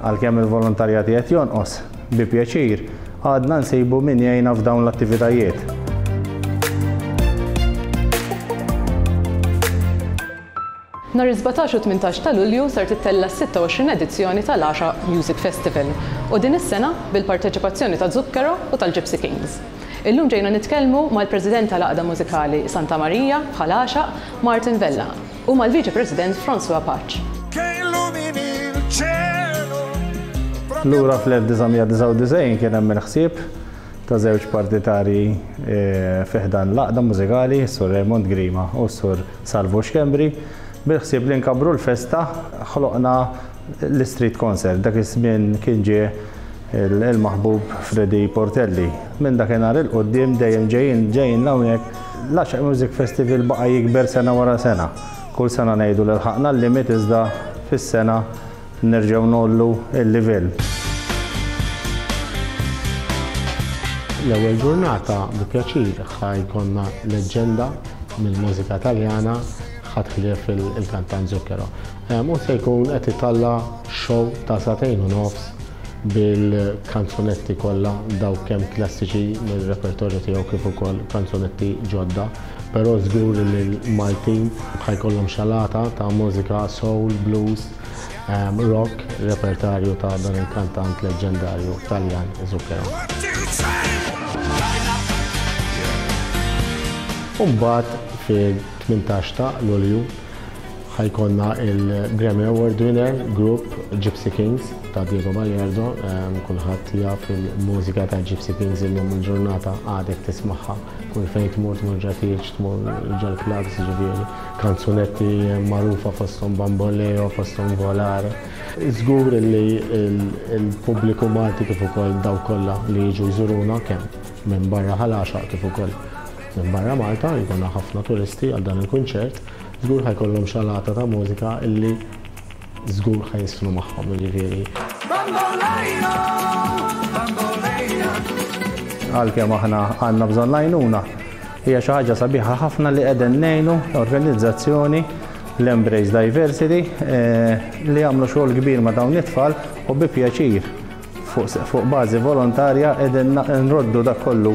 Għalkemm il-volontarjat qed jonqos, bi pjaċir, għadna nsibu min jgħinna f'dawn l-attivitajiet. Nar 17 u 18 ta' Lulju ser tittella' 26 edizzjoni tal-Għaxa Music Festival u din is-sena bil-parteċipazzjoni ta' Zucchero u tal-Gypsy Kings. Illum ġejna nitkellmu mal-President tal-Għaqda Mużikali Santa Marija bħal Għaxaq, Martin Vella. u mal-Viċi President François Pace. Lura fl-1999 kien hemm il-ħsieb ta' żewġ partitarji fi ħdan l-għaqda mużikali, is-Sur Raymond Grima u s-Sur Salvu Schembri, bil-ħsieb li nkabbru l-festa ħloqna l-Istreet Concert. Dak iż-żmien kien ġie Il-maħbub Freddy Portelli. Minn dakinhar 'il quddiem dejjem ġejjin ġejjin 'l hawnhekk. L-Għaxaq Music Festival baqa' jikber sena wara sena. Kull sena ngħidu li lħaqna l-limit iżda fis-sena nerġgħu ngħollu l-livell. L-ewwel ġurnata bi pjaċir ħa jkollna leġġenda mill-mużika Taljana ħadd ħlief il-kantant Zucchero. Hu se jkun qed italla' show ta' sagħtejn u nofs bil-kanzunetti kollha dawk kemm klassiċi mir-repertorju tiegħu kif ukoll kanzunetti ġodda, però żgur li l-Maltin ħa jkollhom xalata ta' mużika soul, blues, rock, repertarju ta' dan il-kantant leġġendarju Taljan Zucchero. U mbagħad fit-18 ta' Lulju, Ħa jkollna il-Grammy Award winner group Gypsy Kings ta' Diego Bajerdo. Ehm, kulħadd jaf il-mużika ta' Gypsy Kings illum il-ġurnata għadek tismaħħa. Kull fejn tmur tmur ġatiċ, tmur ġol clubs, ġifieri kanzunetti magħrufa fosthom Bamboleo, fosthom Volar. Żgur li l-pubbliku Malti kif ukoll daw kollha li jiġu jżuruna kemm minn barra ħal kif ukoll minn barra Malta jkollna ħafna turisti għal dan il-kunċert Żgur ħa jkollhom xalata ta' mużika illi żgur ħa jiżfnu magħhom, jiġifieri. Bamboleo, bamboleo. Għalkemm aħna għandna bżonn l-għajnuna, hija xi ħaġa sabiħa ħafna li qegħdin ngħinu organizzazzjoni l-Embrace Diversity eh, li għamlu xogħol kbir ma' dawn it-tfal u bi pjaċir fuq bażi volontarja qegħdin nroddu dak kollu